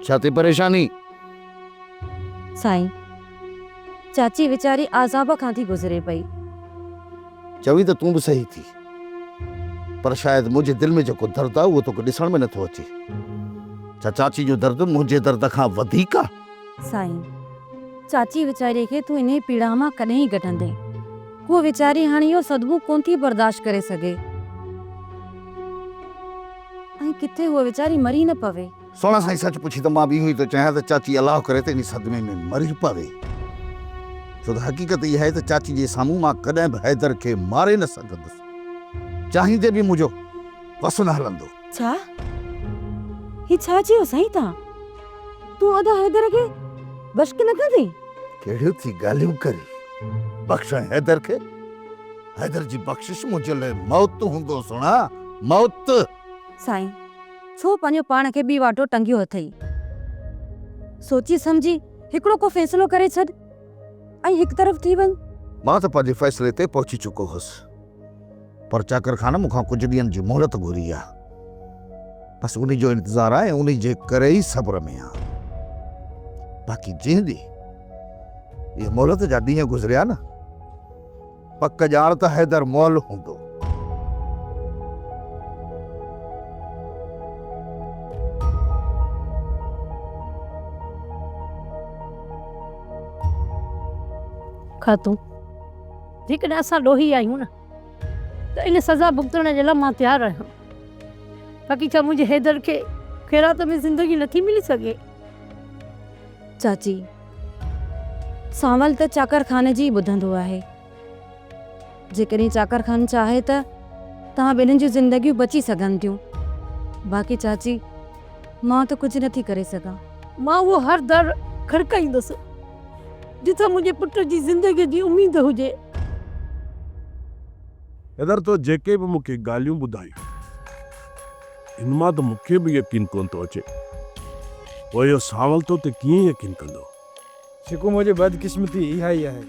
ڇا ٿي پريشاني؟ سائين چاچي ويچاري عذاب کان ٿي گذري پئي. چوين ته تون به صحيح ٿي پر شايد منهنجي دل ۾ جيڪو درد آهي اهو توکي ڏسڻ ۾ نه ٿو اچي. ڇا چاچي جو درد منهنجي درد کان وڌيڪ آهي؟ سائين! چاچي ويچاريء کي تون انهيء پيڙاهه مان ڪڏهن ڪڍندين؟ هوء ويچاري هاڻ اهو صدمو ڪونه ٿي برداشت ڪري سگهي. ۽ ڪٿي هوء ويچاري مري نه پوي. سهڻا سائين سچ پڇي ته مان به اهو ئي ٿو چاهيان ته چاچي الله ڪري ته انهي صدمي ۾ مري پوي. ڇو ته حقيقت اها آهي ته چاچي جي سامهون مان ڪڏهن به حيدر کي ماري نه سگهندس. چاهيندي به منهنجو وس نه هلندو. ڇا؟ هي ڇا چيو سائين توهان؟ تون ادا حيدر کي بشڪ نه ڪندين؟ ڪهڙيون ٿي ڳالهيون ڪرين؟ بخشان حيدر کي؟ حيدر جي بخشش منهنجي لاء موت هوندو سهڻا، موت! سائين ڇو پنهنجو پاڻ کي ٻي واٽو ٽنگيو اٿئي؟ سوچي سمجهي هڪڙو ڪو فيصلو ڪري ڇڏ ۽ هڪ طرف ٿي وڃ. مان ته پنهنجي فيصلي تي پهچي چڪو هوس. پر چاڪر خان مون کان ڪجهه ڏينهن جي مهلت گهري آ. بس انهي جو انتظار آ ۽ انهي جي ڪري ئي صبر ۾ آ. باقي جنهن ڏينهن اهي مهلت جا ڏينهن گذريا نه، پڪ ڄاڻ ته حيدر مئل هوندو. خاتون! جيڪڏهن اسان ڏوهي آهيون نه ته ان سزا ڀڳتڻ جي لاء مان تيار آهيان باقي ڇا منهنجي حيدر کي خيرات ۾ زندگي نٿي ملي سگهي؟ چاچي سانول ته چاڪر خان جي ئي ٻڌندو آهي جيڪڏهن چاڪر خان چاهي ته توهان ٻنهين جون زندگيون بچي سگهن ٿيون باقي چاچي مان ته ڪجهه نٿي ڪري سگهان. مان اهو هر در کڙڪائيندس، جتان منهنجي پٽ جي زندگيء جي اميد هجي. حيدر، تو جيڪي به مون کي ڳالهيون ٻڌايون، ان مان ته مون کي به يقين ڪونه ٿو اچي. پوء اهو سانول تو تي ڪيئن يقين ڪندو؟ جيڪو منهنجي بدقسمتي اها ئي آهي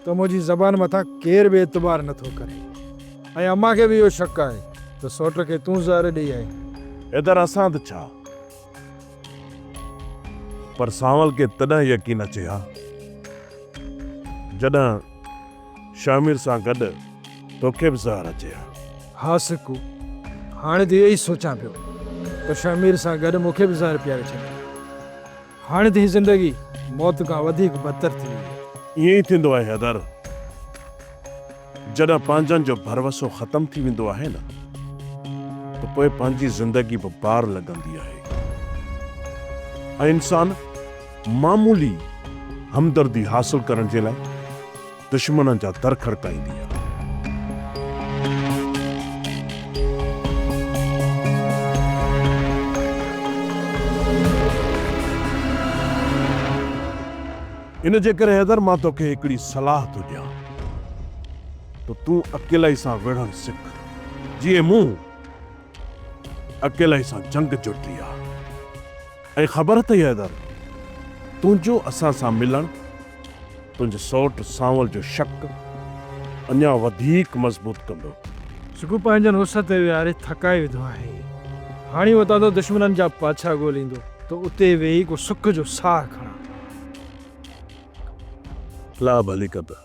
ته منهنجي زبان مٿان ڪير به اعتبار نه ٿو ڪري ۽ امان کي به اهو شڪ آهي ته سوٽ کي تون زهر ڏئي آئين. حيدر اسان ته ڇا پر سانول کي تڏهن يقين اچي ها جڏهن شهمير سان گڏ توکي به زهر اچي ها. ها سڪو هاڻي ته اهو ئي سوچان پيو ته شهمير سان گڏ مون کي به زهر پياري ڇڏيو. هاڻي ته هي زندگي موت کان وڌيڪ بدتر ٿي وئي. ائين ئي ٿيندو آهي حيدر. جڏهن پنهنجن جو ڀروسو ختم ٿي ويندو آهي نه ته پوء پنهنجي زندگي به بار لڳندي آهي ۽ انسان معمولي همدردي حاصل ڪرڻ جي لاء دشمنن جا در کڙڪائيندي آ. ان جي ڪري حيدر مان توکي هڪڙي صلاح ٿو ڏيان ته تون اڪيلائي سان وڙهڻ سک. جيئن مون اڪيلائي سان جنگ جڙتي آ ۽ خبر اٿئي حيدر تنهنجو اسان سان ملڻ تنهنجي سوٽ سانول جو شڪ اڃا وڌيڪ مضبوط ڪندو. سگهو پنهنجن اس تي ويهاري ٿڪائي وڌو آهي. هاڻي اتان ته دشمنن جا پاڇا ڳوليندو ته اتي ويهي ڪو سک جو ساهه کڻان. لا ڀلي ڪندا.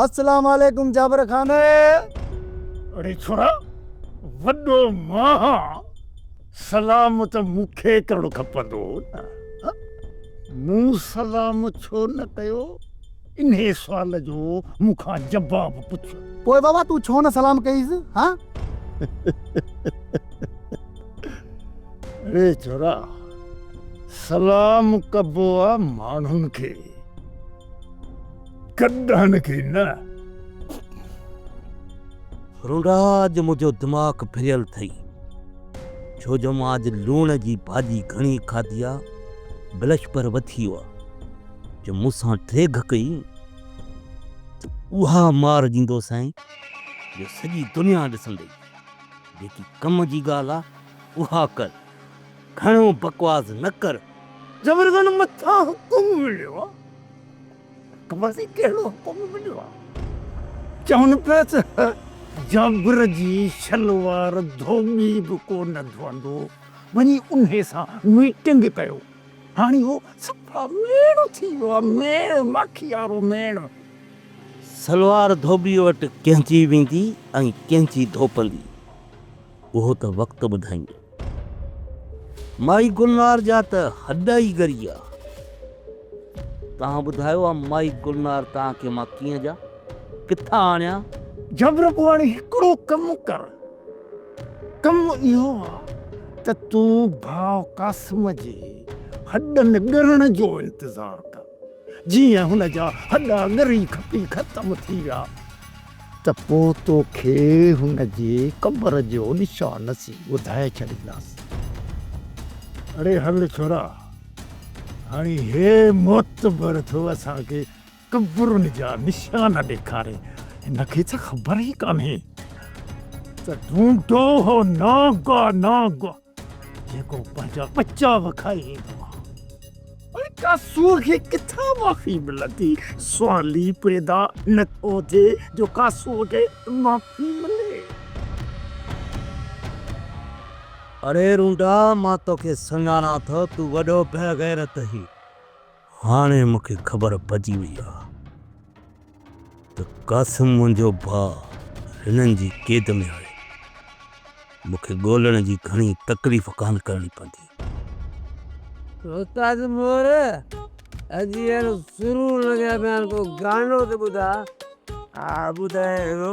السلام عليڪم جابر خان. اڙي ڇورا وڏو ماهه سلام ته مون کي ڪرڻ کپندو هو نه مون سلام ڇو نه ڪيو. انهيء سوال جو مون کان جواب پڇ. پوء بابا تون ڇو نه سلام ڪيس ها؟ اڙي ڇورا، سلام ڪبو آ ماڻهن کي، گڏهن کي نه. رونڊا اڄ منهنجو دماغ ڦريل ٿئي، ڇو جو مان اڄ لوڻ جي ڀاڄي گهڻي کاڌي آ، بلشپر وٿي ويو آ. جو مون سان ڊيگهه ڪئي ته اها مار ڏيندوسانء جو سڄي دنيا ڏسندئي. جيڪي ڪم جي ڳالهه آ اها ڪر، گهڻو بڪواس نه ڪر. جبرگن مٿان حڪم مليو آ. خبر ٿئي ڪهڙو حڪم مليو آ. چون پيا ته جابر جي شلوار ڌوٻي به ڪو نه ڌوئندو. وڃي انهي سان ميٽنگ ڪيو. هاڻي هو صفا ميڻ ٿي ويو آهي، ميڻ، ماکي وارو ميڻ. سلوار ڌوٻيء وٽ ڪنهنجي ويندي ۽ ڪنهنجي ڌوپندي، اهو ته وقت ٻڌائيندو. مائي گلنار جا ته هڏ ئي ڳري آ. توهان ٻڌايو آ مائي گلنار توهان کي مان ڪيئن ڏيان، ڪٿان آڻيان؟ جبرپواڻي هڪڙو ڪم ڪر. ڪم اهو آ ته تون ڀاء قاسم جي هڏن ڳرڻ جو انتظار ڪر، جيئن هن جا هڏا ڳري کپي ختم ٿي ويا ته پوء توکي هن جي قبر جو نشان نصيب ٻڌائي ڇڏينداسين. اڙي هل ڇورا، هاڻي هي معتبر ٿو اسان کي قبرن جا نشان ڏيکاري، هن کي ڇا خبر ئي ڪانهي ته ڍونڍو هو ناگ آ ناگ، جيڪو پنهنجا ٻچا به کائي ويندو آ. هاڻي ڪا سوگهي ڪٿان معافي ملندي، سوال ئي پيدا نه ٿو ٿئي جو ڪا سوگهي معافي ملي. اڙي رونڊا مان توکي سڃاڻان ٿو، تون وڏو بيغيرت هين. هاڻي مون کي خبر پئجي وئي آ ته قاسم منهنجو ڀاء هنن جي قيد ۾ آهي. مون کي ڳولڻ جي گهڻي تڪليف ڪانه ڪرڻي پوندي. استاد مور اڄ اهڙو سرور لڳي ها ته هاڻي ڪو گانو ته ٻڌاء. ها ٻڌايان ٿو.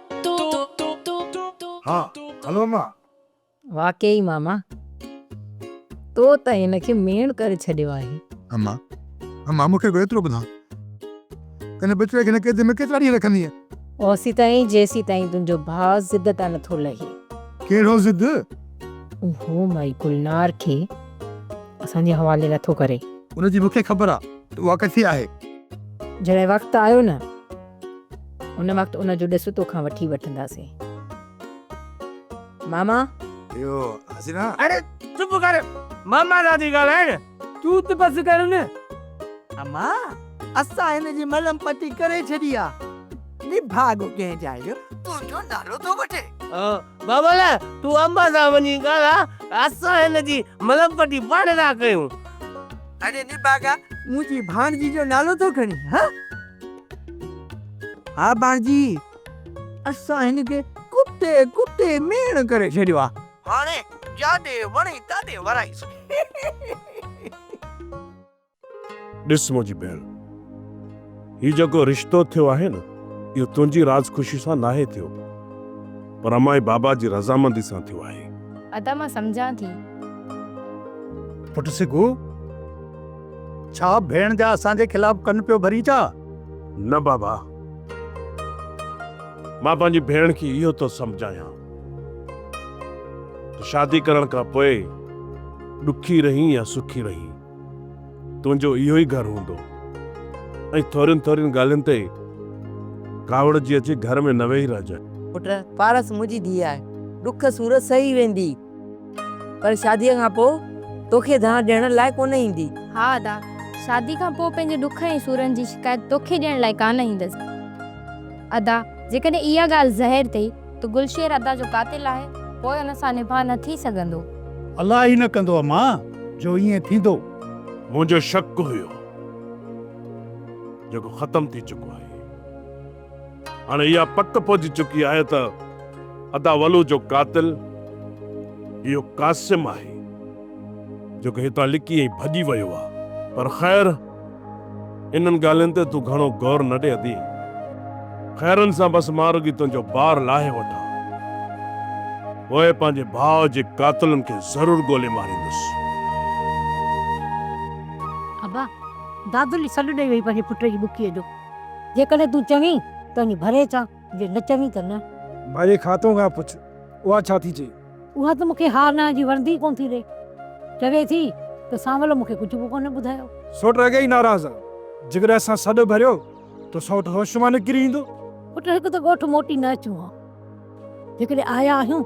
ها هلو مان. واقعي ماما تو ته هن کي ميڻ ڪري ڇڏيو آهي. اما اما مون کي به ايترو ٻڌاء ته هن بچڙي کي هن قيد ۾ ڪيترا ڏينهن رکندينء. اوسيتائين جيسيتائين تنهنجو ڀاء ضد تان نٿو لهي. ڪهڙو ضد؟ اهو مائي گلنار کي اسان جي حوالي نٿو ڪري. ان جي مون کي خبر آ ته اها ڪٿي آهي. جڏهن وقت آيو نه هن وقت ان جو ڏس تو کان وٺي وٺنداسين ماما. اهو حسينا. اڙي چپ ڪر ماما سان ٿي ڳالهائين. تون ته بس ڪر نه. اما اسان هن جي ملم پٽي ڪري ڇڏي آ. نڀاڳو ڪنهن جا اهو تنهنجو نالو ٿو وٺي. او بابل تون اما سان وڃي ڳالهاء اسان هن جي ملم پٽي پاڻ ٿا ڪيون. اڙي نڀاڳا منهنجي ڀاڻجي جو نالو ٿو کڻين هان. ها ڀاڻجي، اسان هن کي ڪتي ڪتي ميڻ ڪري ڇڏيو آ. هاڻي جاڏي وڻي تاڏي ورائيسون. ڏس منهنجي ڀيڻ، هي جيڪو رشتو ٿيو آهي نه، اهو تنهنجي راض خوشي سان ناهي ٿيو، پر امائي بابا جي رضامندي سان ٿيو آهي. ادا مان سمجهان ٿي. پٽ سگهو! ڇا ڀيڻ جا اسان جي خلاف ڪن پيو ڀرين ڇا؟ نه بابا. مان پنهنجي ڀيڻ کي اهو ٿو سمجهايان ته شادي ڪرڻ کان پوء ڏکي رهين يا سکي رهين تنهنجو اهو ئي گهر هوندو ۽ ٿورين ٿورين ڳالهين تي ڪاوڙجي اچي گهر ۾ نه ويهي رهجانء. پٽ، پارس منهنجي ڌيء آهي، ڏک سور سهي ويندي. پر شاديء کان پوء توکي دانهن ڏيڻ لاء ڪونه ايندي. ها ادا، شاديء کان پوء پنهنجي ڏک ۽ سورن جي شڪايت توکي ڏيڻ لاء ڪانه ايندس. ادا، جيڪڏهن اها ڳالهه ظاهر ٿئي ته گلشير ادا جو قاتل آهي، پوء ان سان نباهه نه ٿي سگهندو. الله ئي نه ڪندو اما، جو ائين ٿيندو. منهنجو شڪ هيو، جيڪو ختم ٿي چڪو آهي. هاڻي اها پڪ پئجي چڪي آهي ته ادا ولو جو قاتل اهو قاسم آهي جيڪو هتان لڪي ۽ ڀڄي ويو آهي. پر خير انهن ڳالهين تي تون گهڻو غور نه ڏي ادي. خيرن سان بس مان رڳي تنهنجو بار لاهي وٺان. پوء پنهنجي ڀاء جي قاتلن کي ضرور ڳولي ماريندس. ابا! دادلي سڏ ڏئي وئي پنهنجي پٽ جي ٻڪيء جو. جيڪڏهن تون چوين ته وڃي ڀري اچان، جي نه چوين ته نه. ڀري خاتون کان پڇ، اها ڇا ٿي چئي؟ اها ته مون کي ها نه جي وڻندي ئي ڪونه ٿي رهي. چوي ٿي ته سانول مون کي ڪجهه به ڪونه ٻڌايو. سؤٽ اڳي ئي ناراض آ. جيڪڏهن اسان سڏ ڀريو ته سؤٽ هوش مان نڪري ايندو. پٽ هڪ ته ڳوٺ موٽي نه اچون ها. جيڪڏهن آيا آهيون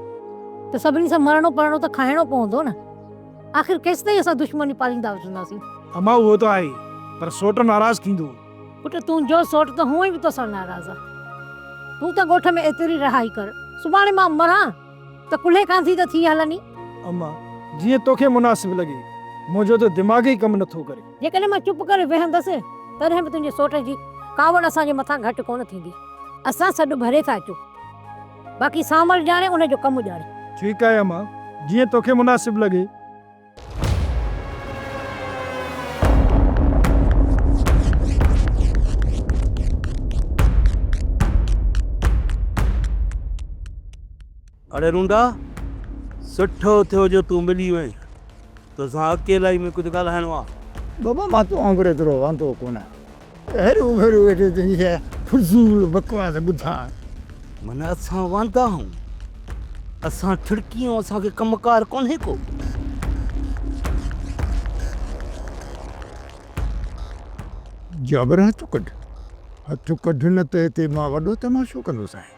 ته سڀني سان مرڻو پرڻو ته کائڻو پوندو نه. آخر ڪيستائين اسان دشمني پاليندا وجهنداسين. امان اهو ته آهي پر سؤٽ ناراض ٿيندو. پٽ تنهنجو سوٽ ته هونئن به توسان ناراض آ. تون ته ڳوٺ ۾ ايتري رهائي ڪر. سڀاڻي مان مران ته ڪلهي ڪانڌي ته ٿي هلندين. اما، جيئن توکي مناسب لڳي. منهنجو ته دماغ ئي ڪم نٿو ڪري. جيڪڏهن مان چپ ڪري ويهندس تڏهن به تنهنجي سوٽ جي ڪاوڙ اسان جي مٿان گهٽ ڪونه ٿيندي. اسان سڏ ڀري ٿا اچون. باقي سانول ڄاڻي ان جو ڪم ڄاڻي. ٺيڪ آهي اما، جيئن توکي مناسب لڳي. اڙي رونڊا، سٺو ٿيو جو تون ملي وئين. توسان اڪيلائي ۾ ڪجهه ڳالهائڻو آ. بابا مان توهان وانگر ايترو واندو ڪونه هرو ڀرو ويٺو تنهنجي اها فضول بڪواس ٻڌان. من اسان واندا آهون اسان ٺڙڪيون اسان کي ڪم ڪار ڪونهي ڪو. جابر هٿ ڪڍ هٿ ڪڍ نه ته هتي مان وڏو تماشو ڪندوسانء.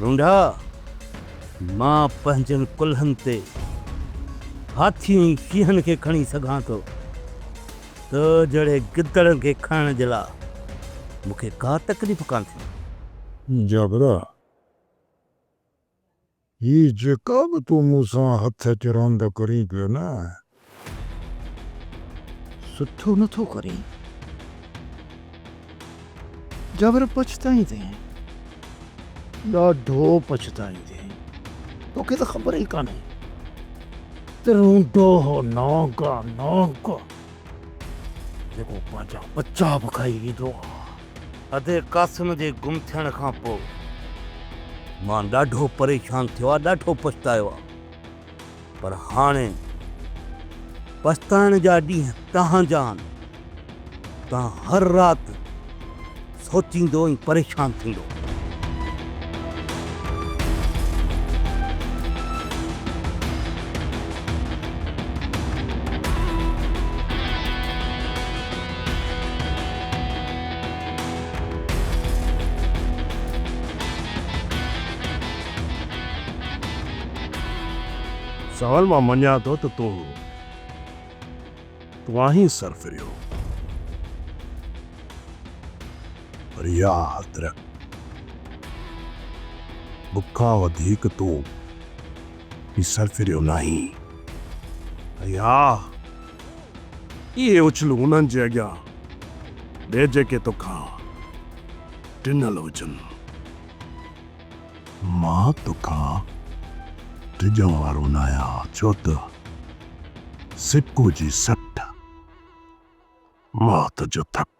رونڊا، مان پنهنجن ڪلهن تي هاٿين ۽ شينهن کي کڻي سگهان ٿو، تو جهڙي گدڙن کي کڻڻ جي لاء مون کي ڪا تڪليف ڪانٿي. جابرا، هي جيڪا به تون مون سان هٿ اچ راند ڪرين پيو نه. سٺو نه ٿو ڪرين. جابر پڇتائيندين. ڏاڍو پڇتائيندين. توکي ته خبر ئي ڪانهي ته رونڊو هو نانگا نانگ جيڪو پنهنجا ٻچا به کائي ويندو آهي. ادي قاسم جي گم ٿيڻ کان پوء مان ڏاڍو پريشان ٿيو آ، ڏاڍو پڇتايو آ، پر هاڻي پڇتائڻ جا ڏينهن تهانجا آهن، تان هر رات سوچيندو ۽ پريشان ٿيندو. سائل مان مڃان ٿو ته تون هو. تون آهين سر ڦريو. پر اها حد رک. مون کان وڌيڪ تون هي سر ڦريو ناهين. ۽ اها. اهي اڇلون انهن جي اڳيان ڏي جيڪي تو کان ڊنل هجن. مان تو کان ڊڄڻ وارو ناهيان ڇو ته سڪو جي سٽ مات جو ٿڪ.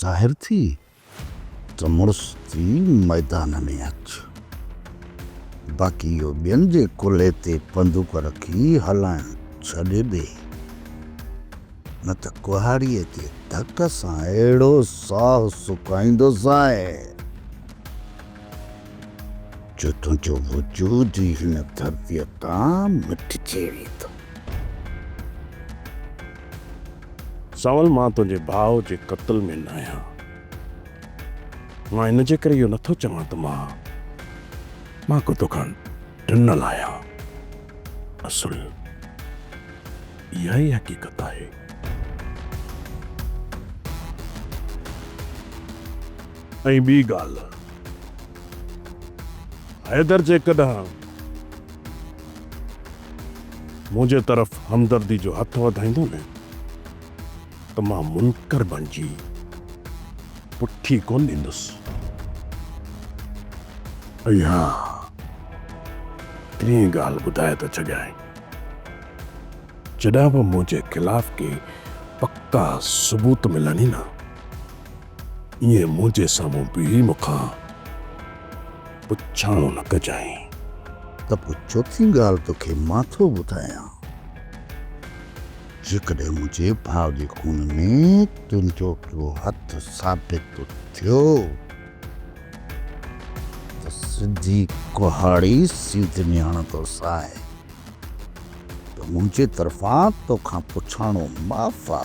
ظاهر ٿي ته مڙس ٿي ميدان ۾ اچ. باقي اهو ٻين جي ڪلهي تي بندوق رکي هلائڻ ڇڏي ڏي، نه ته ڪهاڙيء جي ڌڪ سان اهڙو ساهه سڪائيندوسانء، جو تنهنجو وجود ئي هن ڌرتيء تان مٽجي ويندو. سنول مان تنهنجي ڀاء جي قتل ۾ ناهيان. مان ان جي ڪري اهو نٿو چوان ته مان مان ڪو توکان ڊنل آهيان. اصل اها ئي حقيقت آهي. ۽ ٻي ڳالهه حيدر جيڪڏهن. منهنجي طرف همدردي جو هٿ وڌائيندو نه ته مان منڪر بڻجي پٺي ڪونه ڏيندس. ۽ ها ٽين ڳالهه ٻڌائي ٿو ڇڏيانء، جڏهن به منهنجي خلاف ڪي پڪا ثبوت ملن ئي نه، ائين منهنجي سامهون بيهي مون کان پڇاڻو نه ڪجانء. ته پوء چوٿين ڳالهه توکي مان ٿو ٻڌايان. جيڪڏهن منهنجي ڀاء جي خون ۾ تنهنجو ڪو هٿ ثابت ٿيو ته سڌي ڪهاڙي سيد مياڻ توسانء ته منهنجي طرفان توکان پڇاڻو معاف آ.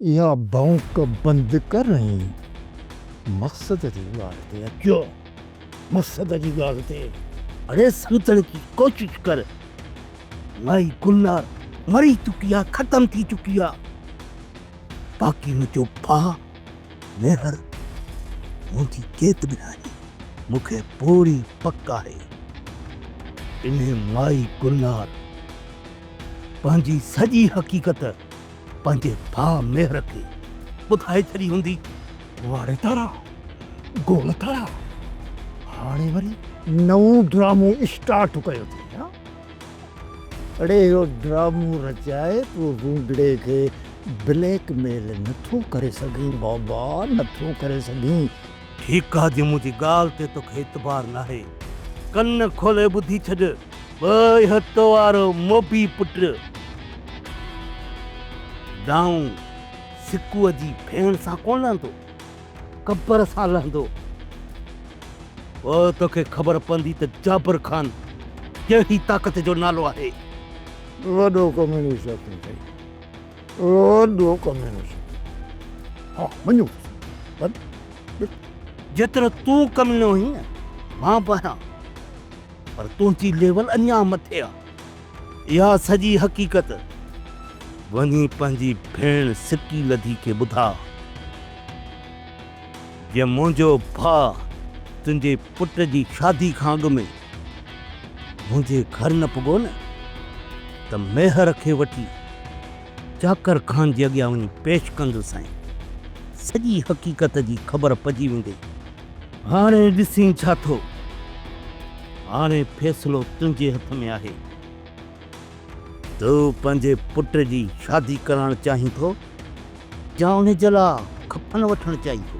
اها ڀونڪ بند ڪر ۽ مقصد جي ڳالهه تي اچو. مقصد جي ڳالهه تي اڙي سمجهڻ جي ڪوشش ڪر. مائي گلنار مري چڪي آ، ختم ٿي چڪي آ. باقي منهنجو ڀاء ميهڙ منهنجي ڪيت به ناهي، مون کي پوري پڪ آهي ته انهي مائي گلنار پنهنجي سڄي حقيقت پنهنجي ڀاء ميهر کي ٻڌائي ڇڏي هوندي. واڙي تارا، گول تارا، هاڻي وري نئون ڊرامو اسٽارٽ ڪيو اٿئي ها؟ اڙي اهو ڊرامو رچائي تون گونگڙي کي بليڪ ميل نٿو ڪري سگهين بابا نٿو ڪري سگهين. هي ڪاڌي منهنجي ڳالهه تي توکي اعتبار ناهي ڪن کولي ٻڌي ڇڏ ٻئي هٿ وارو موڀي پٽ دانهون سڪوء جي ڦيڻ سان ڪونه لهندو. قبر سان لهندو. پوء توکي خبر پوندي ته جابر خان ڪهڙي طاقت جو نالو آهي. وڏو ڪميونسٽ آهي سائين. وڏو ڪميونسٽ. ها مڃيو پر جيترو تون ڪميڻو آهين مان به آهيان پر تنهنجي ليول اڃا مٿي آهي. اها سڄي حقيقت وڃي پنهنجي ڀيڻ سڪي لڌي کي ٻڌاء. جي منهنجو ڀاء تنهنجي پٽ جي شادي کان اڳ ۾ منهنجي گهر نه پڳو نه ته ميهر کي وٺي چاڪر خان جي اڳيان وڃي پيش ڪندسانء. سڄي حقيقت جي خبر پئجي ويندي. هاڻي ڏسين ڇا ٿو. هاڻي فيصلو تنهنجي هٿ ۾ آهي. تو پنهنجي پٽ جي شادي ڪرائڻ چاهين ٿو يا ان جي لاء ڪفن وٺڻ چاهين ٿو.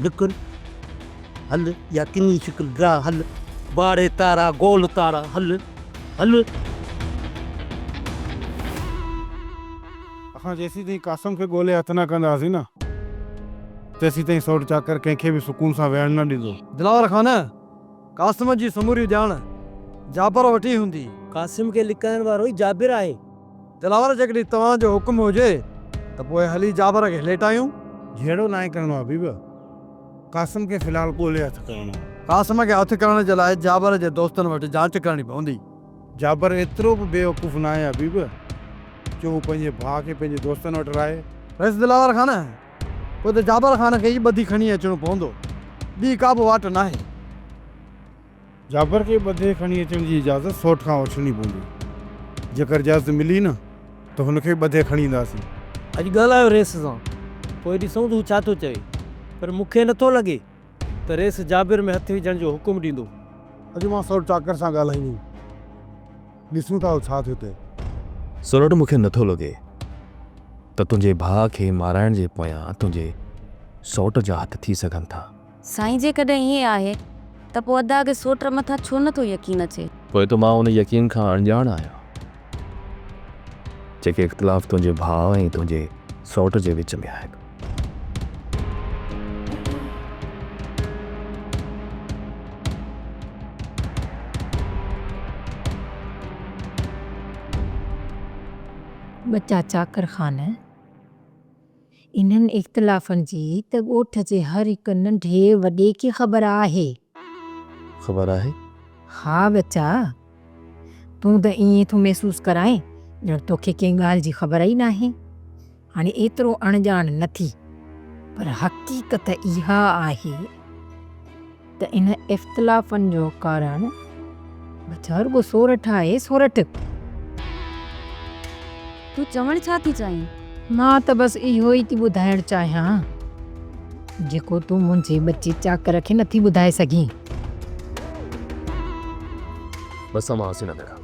نڪر هل يا ڪنهي شڪل ڊاء هل. واڙي تارا گول تارا هل هل. اسان جيسين تائين قاسم کي ڳولي هٿ نه ڪنداسين نه، تيسين تائين سوٽ چاڪر ڪنهن کي به سڪون سان ويهڻ نه ڏيندو. دلاور خان، قاسم جي سموري ڄاڻ جابر وٽ ئي هوندي. قاسم کي لڪائڻ وارو ئي جابر آهي. دلاور، جيڪڏهن توهان جو حڪم هجي ته پوء هلي جابر کي ليٽايون. جهيڙو ناهي ڪرڻو حبيب، قاسم کي في الحال ڳولي هٿ ڪرڻو آهي. قاسم کي هٿ ڪرڻ جي لاء جابر جي دوستن وٽ جاچ ڪرڻي پوندي. جابر ايترو به بيوقوف ناهي حبيب جو هو پنهنجي ڀاء کي پنهنجي دوستن وٽ راهي. رئيس دلاور خان، پوء ته جابر خان کي ئي ٻڌي کڻي اچڻو پوندو، ٻي ڪا به واٽ ناهي. جابر کي ٻڌي کڻي اچڻ جي اجازت سوٽ کان وٺڻي پوندي. جيڪر اجازت ملي نه ته هن کي ٻڌي کڻي اينداسين. اڄ ڳالهايو رئيس سان، پوء ڏسون ته هو ڇا ٿو چوي. پر مون کي نٿو لڳي ته ريس جابر ۾ هٿ وجهڻ جو حڪم ڏيندو. اڄ مان سر چاڪر سان ڳالهائينديم. ڏسون ٿا ڇا ٿيو ٿئي. سورٺ مون کي نٿو لڳي ته تنهنجي ڀاء کي مارائڻ جي پويان تنهنجي سئوٽ جا هٿ ٿي سگهن ٿا. سائين جيڪڏهن ائين آهي ته پوء ادا کي سئوٽ مٿان ڇو نٿو يقين اچي. پوء ته مان ان يقين کان اڻڄاڻ آهيان. جيڪي اختلاف تنهنجي ڀاء ۽ تنهنجي سئوٽ جي وچ ۾ آهن. ٻچا چاڪر خانه! انهن اختلافن جي ته ڳوٺ جي هر هڪ ننڍي وڏي کي خبر آهي. خبر آهي؟ ها ٻچا! تون ته ائين ٿو محسوس ڪرائين ڄڻ توکي ڪنهن ڳالهه جي خبر ئي ناهي. هاڻي ايترو اڻڄاڻ نه ٿي. پر حقيقت اها آهي. ته انهن اختلافن جو ڪارڻ ٻڌ رڳو سورٺ آهي سورٺ. تون چوڻ ڇا ٿي چاهين؟ مان ته بس اهو ئي ٿي ٻڌائڻ چاهيان جيڪو تون منهنجي ٻچي چاڪر کي نٿي ٻڌائي سگهين. بس اوهان هسي نه ڀيڻا.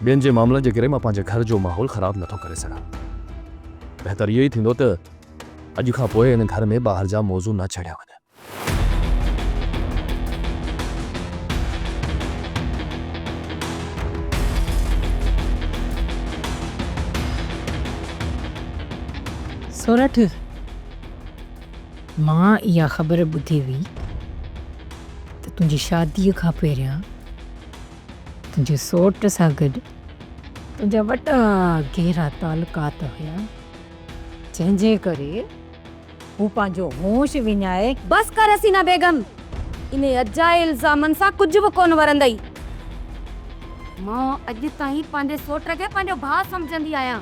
ٻين جي معاملن جي ڪري مان پنهنجي گهر جو ماحول خراب نٿو ڪري سگهان. بهتر اهو ئي ٿيندو ته اڄ کان پوء هن گهر ۾ ٻاهر جا موضوع نه ڇڙيا وڃن. سورٺ مان اها خبر ٻڌي هئي ته تنهنجي شاديء کان پهريان تنهنجي سوٽ سان گڏ تنهنجا وڏا گهرا تعلقات هيا. جنهن جي ڪري هو پنهنجو هوش وڃائي. بس ڪر حسينه بيگم! انهي اجائي الزامن سان ڪجهه به ڪونه ورندئي. مان اڄ تائين پنهنجي سوٽ کي پنهنجو ڀاء سمجهندي آهيان.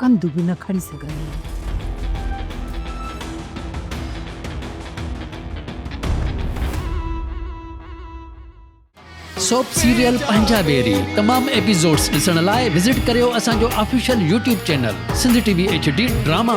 ڪنڌ به نه کڻي سگهندي هئي. سوپ سيريل پنهنجا بيري تمام ايپيسوڊس ڏسڻ لاء وزٽ ڪريو اسان جو official YouTube channel Sindh T V H D drama.